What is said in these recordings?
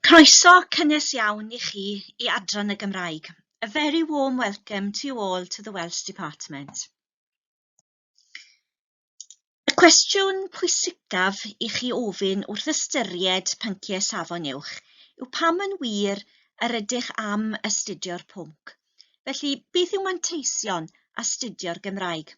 Croeso cynnes iawn i chi i Adran y Gymraeg. A very warm welcome to you all to the Welsh Department. Y cwestiwn pwysicaf i chi ofyn wrth ystyried pynciau safon uwch yw pam yn wir yr ydych am astudio'r pwnc. Felly, beth yw manteision astudio'r Gymraeg?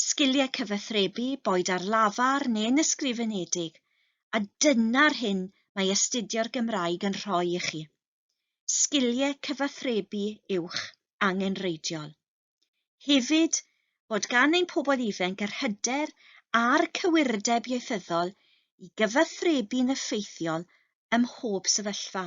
sgiliau cyfathrebu, boed ar lafar neu'n ysgrifenedig, a dyna'r hyn mae astudio'r Gymraeg yn rhoi i chi. Sgiliau cyfathrebu uwch angenreidiol. Hefyd, bod gan ein pobl ifanc yr hyder a'r cywirdeb ieithyddol i gyfathrebu'n effeithiol ym mhob sefyllfa.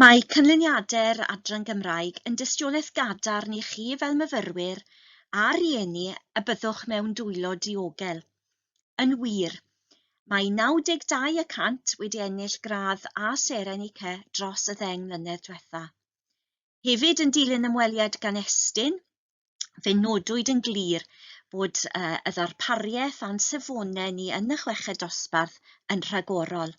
Mae canlyniadau'r Adran Gymraeg yn dystiolaeth gadarn i chi fel myfyrwyr a rhieni y byddwch mewn dwylo diogel. Yn wir, mae 92 y cant wedi ennill gradd A seren UK dros y ddeng mlynedd diwetha'. Hefyd yn dilyn ymweliad gan Estyn, fe nodwyd yn glir bod y ddarpariaeth a'n safonau ni yn y chweched dosbarth yn rhagorol.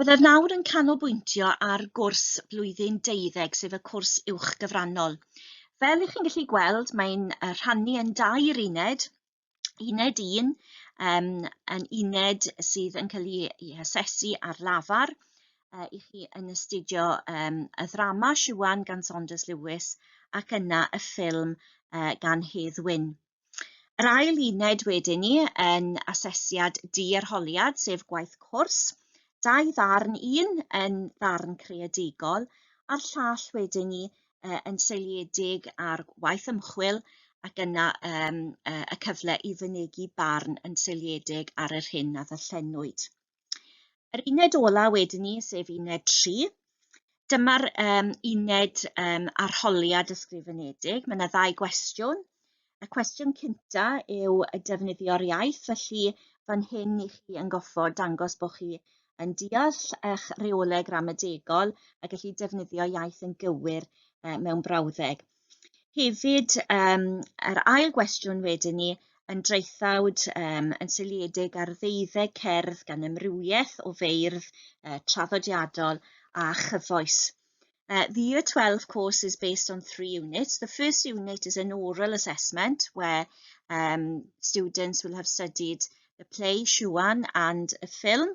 Byddaf nawr yn canolbwyntio ar gwrs blwyddyn deuddeg, sef y cwrs uwch gyfrannol. Fel ych chi'n gallu gweld, mae'n rhannu yn dair uned, uned un, um, yn uned sydd yn cael ei hasesu ar lafar, uh, i chi yn astudio um, y ddrama Siwan gan Saunders Lewis ac yna y ffilm uh, gan Hedd Wyn. Yr ail uned wedyn ni yn asesiad di-arholiad, sef gwaith cwrs, dau ddarn, un yn ddarn creadigol a'r llall wedyn ni uh, yn seiliedig ar waith ymchwil ac yna um, uh, y cyfle i fynegi barn yn seiliedig ar yr hyn a ddyllenwyd. Yr uned ola wedyn ni, sef uned 3, dyma'r um, uned um, arholiad ysgrifenedig. Mae yna ddau gwestiwn. Y cwestiwn cynta yw y defnyddio'r iaith, felly fan hyn i chi yn goffo dangos bod chi yn deall eich reolau gramadegol a gallu defnyddio iaith yn gywir uh, mewn brawddeg. Hefyd yym yr ail gwestiwn wedyn ni yn draethawd yym yn seiliedig ar ddeuddeg cerdd gan amrywiaeth o feirdd yy traddodiadol a chyfoes. Uh, the year 12 course is based on three units. The first unit is an oral assessment where um, students will have studied the play Shuan and a film.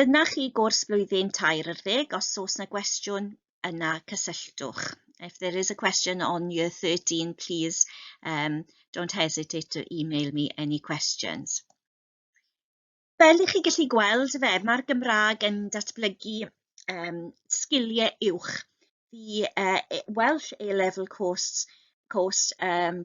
Dyna chi gwrs blwyddyn tair ar ddeg, os oes na gwestiwn yna cysylltwch. If there is a question on year 13, please um, don't hesitate to email me any questions. Fel i chi gallu gweld fe, mae'r Gymraeg yn datblygu um, sgiliau uwch. The uh, Welsh A-level course, course um,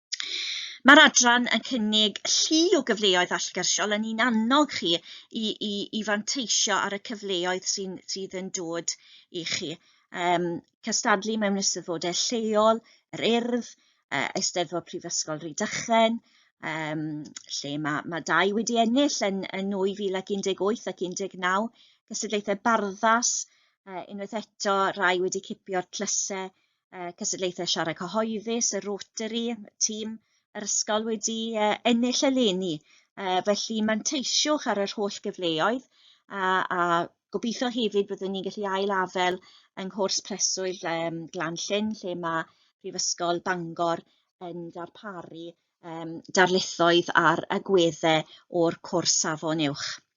Mae'r adran yn cynnig llu o gyfleoedd allgyrsiol, yn ni'n annog chi i, i, i fanteisio ar y cyfleoedd sy'n, sydd yn dod i chi. Um, cystadlu mewn ystyfodau lleol, yr urdd, uh, Eisteddfod Prifysgol Rhydychen, um, lle mae, mae dau wedi ennill yn, yn 2018 ac 19, gystadlaethau barddas, uh, unwaith eto rai wedi cipio'r tlysau uh, cystadlaethau siarad cyhoeddus, y Rotary, tîm yr ysgol wedi uh, ennill eleni. Uh, felly manteisiwch ar yr holl gyfleoedd a, a gobeithio hefyd byddwn ni'n gallu ail afel yng nghwrs preswyl um, Glan Llyn lle mae Prifysgol Bangor yn darparu um, darlithoedd ar agweddau o'r cwrs safon uwch.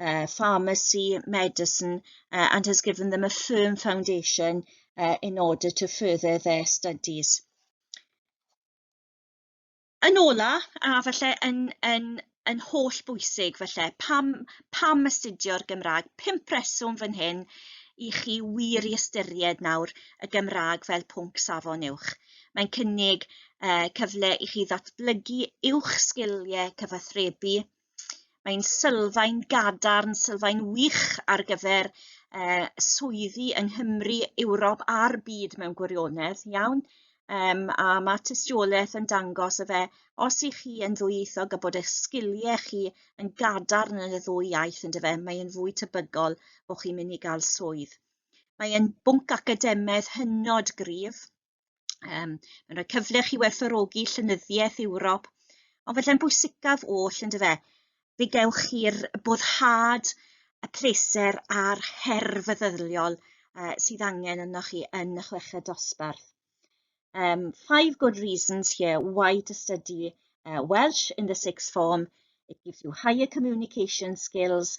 uh, pharmacy, medicine, uh, and has given them a firm foundation uh, in order to further their studies. Yn ola, a falle yn, yn, yn holl bwysig falle, pam, pam astudio'r Gymraeg? Pimp reswm fan hyn i chi wir i ystyried nawr y Gymraeg fel pwnc safon uwch. Mae'n cynnig uh, cyfle i chi ddatblygu uwch sgiliau cyfathrebu, Mae'n sylfaen gadarn, sylfaen wych ar gyfer uh, swyddi yng Nghymru, Ewrop a'r byd mewn gwirionedd, iawn? Um, a mae tystiolaeth yn dangos y fe, os i chi yn ddwyieithog a bod eich sgiliau chi yn gadarn yn y ddwy iaith yn dyfe, mae'n fwy tebygol bod chi'n mynd i gael swydd. Mae'n bwnc academaidd hynod gryf, Um, mae'n rhoi cyfle chi werthorogi llenyddiaeth Ewrop, ond felly'n bwysicaf oll yn dyfe, fe gewch chi'r boddhad, y pleser a'r her feddyliol uh, sydd angen yno chi yn y chweched dosbarth. Um, five good reasons here why to study uh, Welsh in the sixth form. It gives you higher communication skills,